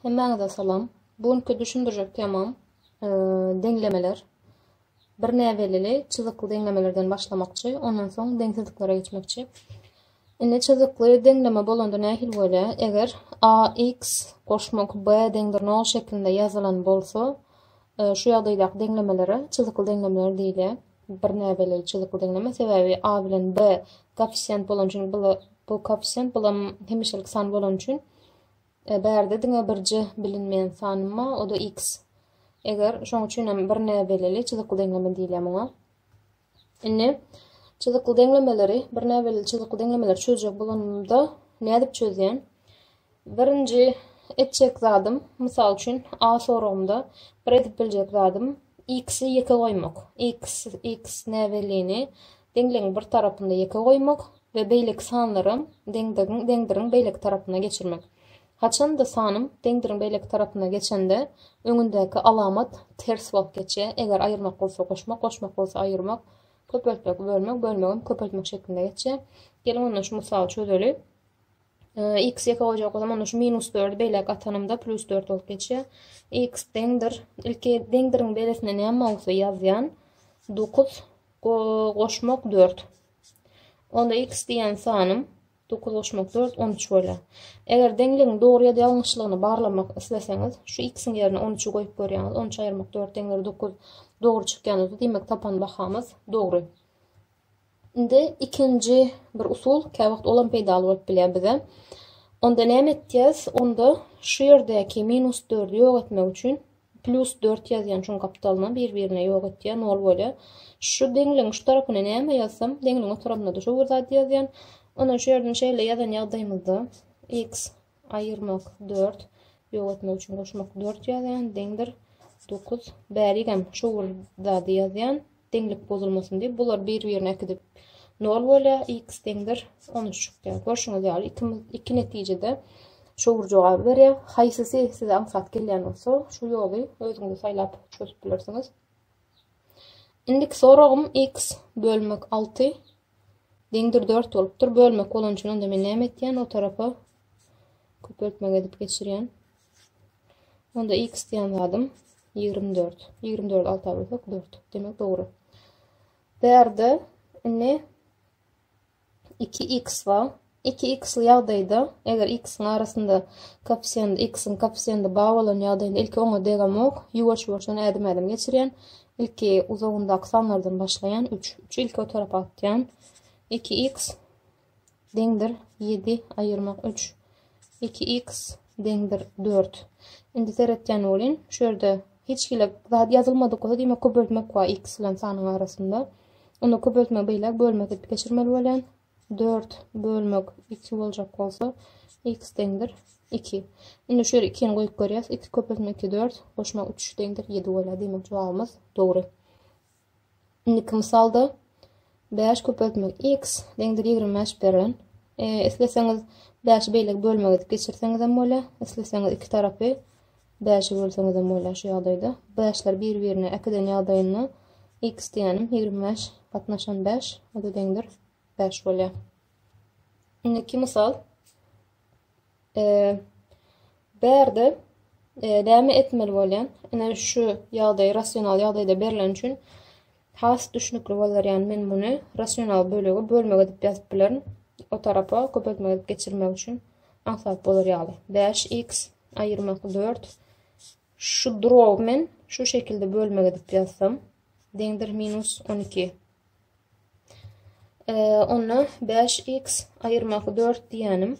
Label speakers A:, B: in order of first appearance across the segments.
A: Hemmäňize salam. Bu günki düşündirjek temam deňlemeler. Bir näbellili çyzykly deňlemelerden başlamakçy, ondan soň deňsizliklere geçmekçi. Indi çyzykly deňleme bolanda nähili bolýar? Eger ax goşmak b deňdir 0 şeklinde ýazylan bolsa, e, şu ýagdaýdaky deňlemelere çyzykly deňlemeler diýilýär. Bir näbelli çyzykly deňleme, sebäbi a bilen b koeffisient bolany üçin bu koeffisient bulam hemişelik san bolany üçin e, bärde diňe birje bilinmeýän sanma o da x. Eger şoň üçin hem bir näbelli çyzykly deňleme diýilýär muňa. Indi çyzykly deňlemeleri, bir näbelli çyzykly deňlemeleri çözjek bolanymda nädip çözýän? Birinji etjek zadym, mysal üçin, A soragynda bir edip biljek zadym, X-i ýeke goýmak. X, X näbellini deňligiň bir tarapynda ýeke goýmak we beýleki sanlaram deňdigiň, deňdiriň beýleki tarapyna geçirmek. Haçan-da sanym deňdiriň beýleki tarapyna geçende, öňündäki alamat ters bolup geçýär, eger aýyrmak bolsa goşmak, goşmak bolsa aýyrmak, köpeltmek, bölmek, bölmegem köpeltmek şeklinde geçýär. Geliň onda şu mysaly çözeli. X ýeke goýjak bolsam, onda şu minus dördi beýläk atanymda plus dört bolup geçýär. X deňdir. Ilki deňdiriň beresinde näme bolsa ýazýan. Dokuz goşmak dört. Onda x diýen sanym dokuz goşmak dört on üç bolýar. Eger deňligiň dogry ýa-da ýalňyşlygyny barlamak isleseňiz, şu x-iň ýerine on üçi goýup görýäňiz. On üç aýyrmak dört deňdir dokuz dogry çykýan bolsa, diýmek tapan bahamyz dogry. Indi ikinji bir usul, käwagt olam peýdaly bolup bilýär bize. Onda näme etýäs? Onda şu ýerdäki minus dördi ýok etmek üçin plus dört ýazýan şuň gapdalyna bir-birine ýok etýär, nol bolýar. Şu deňligiň şu tarapyna näme ýazsam, deňligiň o tarapyna-da şu bir zat ýazýan. Ondan şu ýerden şeýle ýazan ýagdaýymyzda x Aýyrmak, dört. Ýogatmak üçin goşmak, dört ýazýan, deňdir, dokuz. Bärigem şu bir zady ýazýan, deňlik bozulmasyn diýip, bular bir-birine äkidip nol bolýar, x deňdir, on üç çykýar. Görşüňiz ýaly, ikimiz iki netijede şu bir jogaby berýär. Haýsysy size aňsat gelýän bolsa, şu ýoly özüňiz saýlap çözüp bilersiňiz. Indiki soragym, x bölmek alty, Deňdir dört bolupdyr. Bölmek bolan üçin onda men näme etýän? O tarapa köpeltmek edip geçirýän. Onda x diýen zadym 24. 24 alta bölsek 4. Demek dogry. Bu ýerde indi 2x bar. Iki x-ly ýagdaýda, eger x-iň arasynda koeffisiýent x-iň koeffisiýenti bar bolan ýagdaýynda ilki oňa degamok, ýuwaş-ýuwaşdan ädim-ädim geçirýän, ilki uzagyndaky sanlardan başlaýan, üç, üçi ilki o tarapa atýan, iki x deňdir ýedi aýyrmak üç, iki x deňdir dört. Indi seretýän welin, şu ýerde hiç hili zat ýazylmadyk bolsa, diýmek köpeltmek bar x bilen sanyň arasynda. Onda köpeltme beýläk bölmek edip geçirmeli bolýan. Dört bölmek iki boljak bolsa, x deňdir iki. Indi şu ýere ikini goýup görýäs. Iki köpeltmek iki dört, goşmak üç deňdir ýedi bolýar. Diýmek, jogabymyz dogry. Indiki mysalda bäş köpeltmek x deňdir ýigrimi bäş beren. E, isleseňiz bäşi beýleki bölmek edip geçirseňizem bolýar. Isleseňiz iki tarapy Bäşi bölseňizem bolar şu ýagdaýda. Bäşler bir-birine ikiden ýagdaýynda x diýýänim ýigrimi bäş gatnaşan bäş o-da deňdir bäş bolýar. Indiki mysal. Bärde näme etmeli bolýan? Ine şu ýagdaý rasional ýagdaýda berlen üçin Has düşnükli bolar ýaly men muny rasional bölegi bölmek edip ýazyp bilerin o tarapa köpeltmek edip geçirmek üçin aňsat bolar ýaly bäş x aýyrmak dört şu drow men şu şekilde bölmek edip ýazsam deňdir minus on iki onda bäş x aýyrmak dört diýenim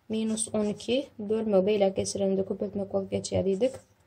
A: minus on iki bölmek beýläk geçirende köpeltmek bolup geçýär diýdik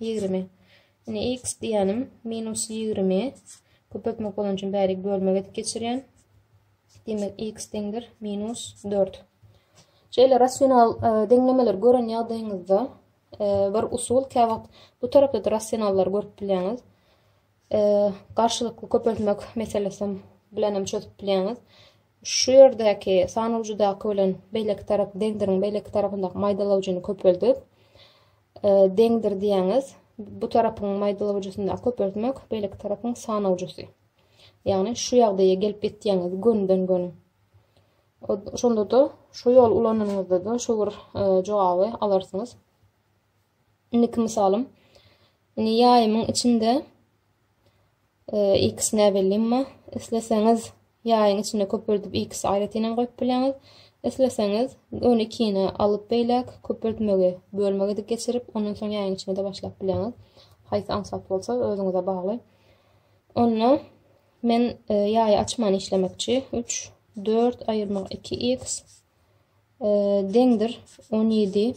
A: Ýigrimi. Ine, x diýýänim minus ýigrimi. Köpeltmek bolany üçin bäri bölmek edip geçirýän. Demek, x deňdir minus dört. Şeýle rasional e, deňlemeleri gören ýagdaýyňyzda e, bir usul, kä wagt bu tarapda-da rasionallar görüp bilýäňiz. E, garşylykly köpeltmek meselesi bilen hem çözüp bilýäňiz. Şu ýerdäki sanawjydaky bilen beýleki tarap deňdiriň beýleki tarapyndaky maýdalawjyny köpeldip deňdir diýäňiz. Bu tarapyň maýdalawjysyndaky köpeltmek beýleki tarapyň sanawjysy. Ýagny şu ýagdaýa gelip ýetýäňiz gönden gön. Şonda da şu ýol ulanyňyzda da şu bir e, jogaby alarsyňyz. Indiki misalym. Indi ýaýymyň içinde X näbelli emma isleseňiz ýaýyň içinde köpürdip X aýratynam goýup bileňiz. Isleseňiz ony ikine alyp beýläk köpürtmegi bölmegi edip geçirip ondan soň ýaýyň içinde başlap bileňiz. Haýsy aňsat bolsa özüňize bagly. Onda men e, ýaýy açman işlemekçi 3 4 aýyrmak 2x e, deňdir 17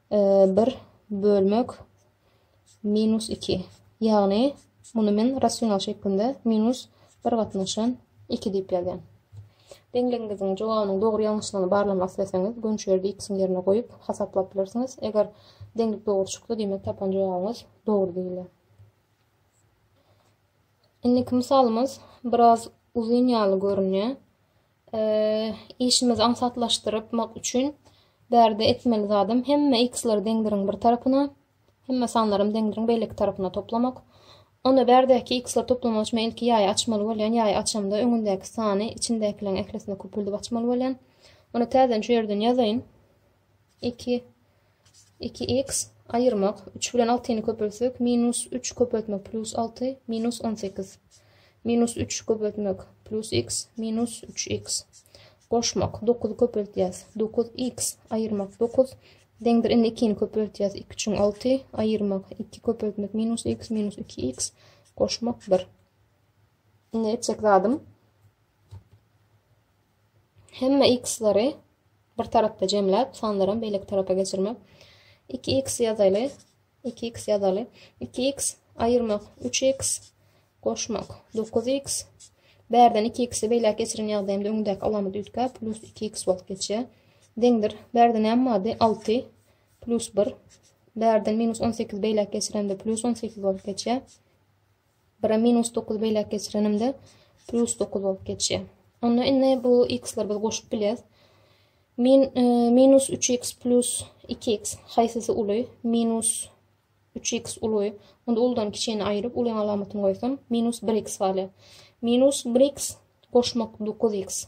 A: 1 bölmek minus 2. Ýagny, muny men rasional şeklinde minus 1 gatnaşan 2 diýip ýazýan. Deňligiňiziň jogabynyň dogry-ýalňyşlygyny barlamak isleseňiz, gönçerdi x-iň ýerine goýup, hasaplap bilersiňiz. Eger deňlik dogry çyksa, diýmek tapan jogabyňyz dogry diýilýär. Indiki mysalymyz biraz uzyn ýaly görünýär. Işimizi aňsatlaşdyrmak üçin bärde etmeli zadym hemme x-leri deňdiriň bir tarapyna, hemme sanlarym deňdiriň beýleki tarapyna toplamak. Onda bärdäki x-ler toplamak üçin ilki ýaýy açmaly bolýan. Ýaýy açamda öňündäki sany içindäkileriň ählisine köpüldip açmaly bolýan. Ony täzeden şu ýerden ýazaýyn. Iki, iki x aýyrmak, üç bilen altyny köpeltsek, minus üç köpeltmek plus alty, minus on sekiz. Minus üç köpeltmek plus x, minus üç x. Goşmak, dokuzy köpeltýäs, dokuz x aýyrmak dokuz, deňdir indi ikini köpeltýäs, iki üçin alty, aýyrmak iki köpeltmek minus x, minus iki x, goşmak bir. Indi etjek zadym, Hemme x-lary bir tarapda jemläp, sanlaram beýleki tarapa geçirmek. Iki x ýazaly, iki x ýazaly. Iki x aýyrmak, üç x goşmak, dokuz x. Bärden iki x-i beýläk geçiren ýagdaýymda öňündäki alamat üýtgäp, plus iki x bolup geçýär. Deňdir. Bärde näme bardy? Alty plus bir. Bärden minus on sekiz beýläk geçiremde plus on sekiz bolup geçýär. Bire minus dokuzy beýläk geçirenimde plus dokuz bolup geçýär. Onda indi bu x-leri biz goşup bilýäs. Min, e, minus 3x plus 2x haýsysy uly? Minus 3x uly. Onda uludan kiçini aýryp, ulyň alamatyny goýsam, minus 1x galýar. Minus 1x goşmak 9x.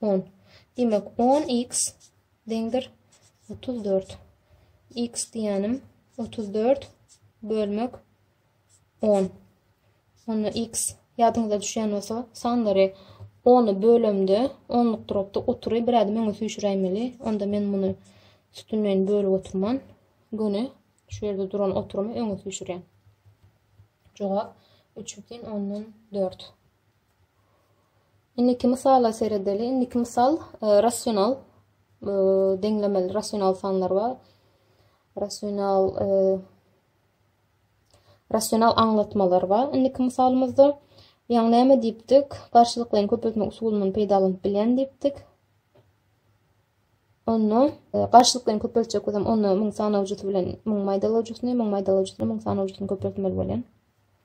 A: On. Diýmek, on x deňdir otuz dört. X diýýänim otuz dört bölmek on. Onda x ýadyňyza düşýän bolsa, sanlary ony bölemde, onluk duropda otury bir ädim öňe süýşüräýmeli. Onda men muny sütünleýin bölüp oturman, göni şu ýerde duran oturymy öňe süýşürýän. Jogap üç bütin ondan dört. Indiki mysala seredeli. Indiki mysal e, rasional e, deňlemeli rasional sanlar bar. Rasional e, rasional aňlatmalar bar. Indiki misalymyzda ýagny näme diýipdik? Garşylyklaryny köpeltmek usulundan peýdalanyp bilýän diýipdik. Onda e, garşylyklaryny köpeltjek bolsam, onda 1000 sanawjysy bilen 1000 maýdalawjysyny, 1000 maýdalawjysyny 1000 sanawjysyny köpeltmeli bolýan.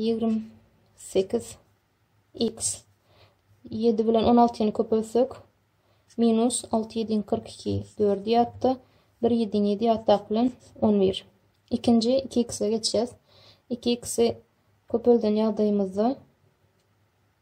A: Ýigrimi sekiz iks ýedi bilen on altyny köpeltsek, minus alty ýediň kyrk iki dördi ýatda, bir ýediň ýedi ýatdak bilen on bir. Ikinji iki ikse geçýäs. Iki iksi köpelden ýagdaýymyzda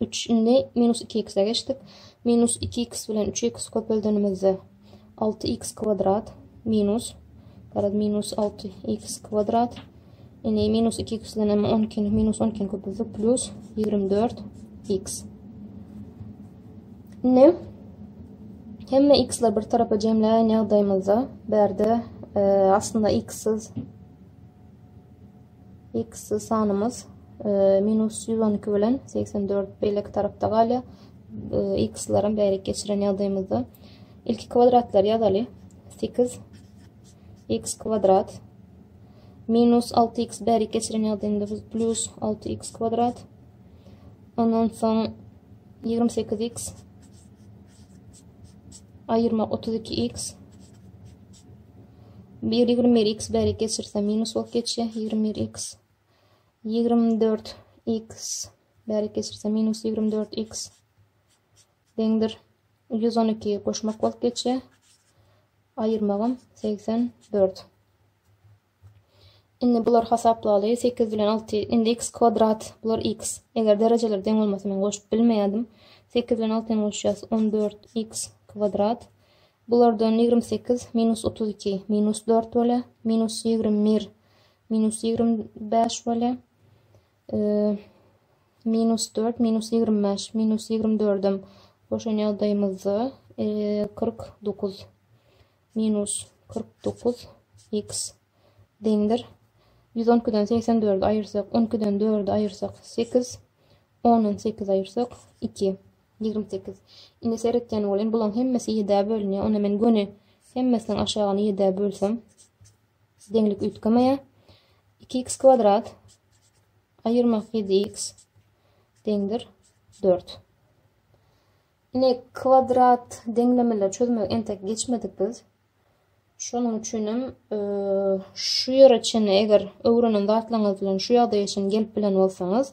A: Üç, indi minus iki x-e geçdik. Minus iki x bilen üç x-i köpeldenimizde alty x kwadrat minus, garaz, minus alty x kwadrat. Indi minus iki x bilen emma on ikini, minus on ikini köpeltdik, plus ýigrimi dört x. Indi hemme x-ler bir tarapa jemläýen ýagdaýymyzda, bärde e, aslynda x-siz X sanymyz minus ýüz on iki bilen segsen dört beýleki tarapda galýar. X-laram bärik geçiren ýagdaýymyzda ilki kwadratlary ýazaly. 8 x kwadrat minus 6x bärik geçiren ýagdaýynda biz plus 6x kwadrat ondan soň 28x ayırmak 32x Bir ýigrimi bir x bärik geçirse minus bolup geçýär. Ýigrimi bir x. Ýigrimi dört x bärik geçirse minus ýigrimi dört x. Deňdir. Ýüz on iki goşmak bolup geçýär. Aýyrmagym segsen dört. Indi bular hasaplaly. Sekiz bilen alty. Indi x kwadrat. Bular x. Eger derejeler deň bolmasa men goşup bilmeýärdim. Sekiz bilen altyny goşýas. On dört x kwadrat. Bulardan ýigrimi sekiz minus otuz iki minus dört bolýar. Minus ýigrimi bir minus ýigrimi bäş bolýar. Minus dört minus ýigrimi bäş minus ýigrimi dördem goşan ýagdaýymyzda kyrk dokuz minus kyrk dokuz x deňdir. Ýüz on ikiden segsen dördi aýyrsak, on ikiden dördi aýyrsak sekiz, Ondan sekiz aýyrsak, iki. Ýigrimi sekiz. Indi seretýän bolýan, bulaň hemmesi ýedä bölünýär. Onda men göni hemmesiniň aşagyny ýedä bölsem, deňlik üýtgemeýär. Iki x kwadrat aýyrmak ýedi x deňdir dört. Ine kwadrat deňlemeleri çözmek entek geçmedik biz. Şonuň üçin hem e, şu ýere çenli eger öwrenen zatlaryňyz bilen şu ýagdaýa çenli gelip bilen bolsaňyz,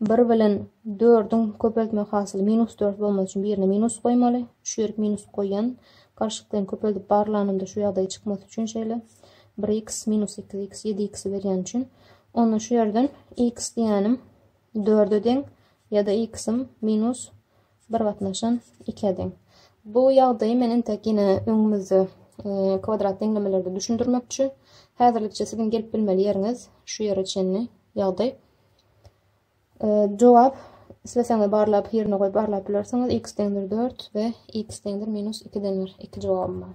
A: Bir bilen dördüň köpeltme hasyly minus dört bolmaly üçin birine minus goýmaly. Şu ýerik minus goýan. Garşylyklaryny köpeldip barlanymda şu ýagdaý çykmasy üçin şeýle. 1x minus 2x 7x berýän üçin. Onda şu ýerden x diýýänim dörde deň ýa-da x-im minus Bir gatnaşan ikä deň. Bu ýagdaýy men entek ýene öňümizde kwadrat deňlemelerde düşündirmekçi. Häzirlikçe siziň gelip bilmeli ýeriňiz şu ýere çenli ýagdaý. Jogap isleseňiz barlap ýerine goýup barlap bilersiňiz. X deňdir 4 we X deňdir minus 2 den bir iki jogabym bar.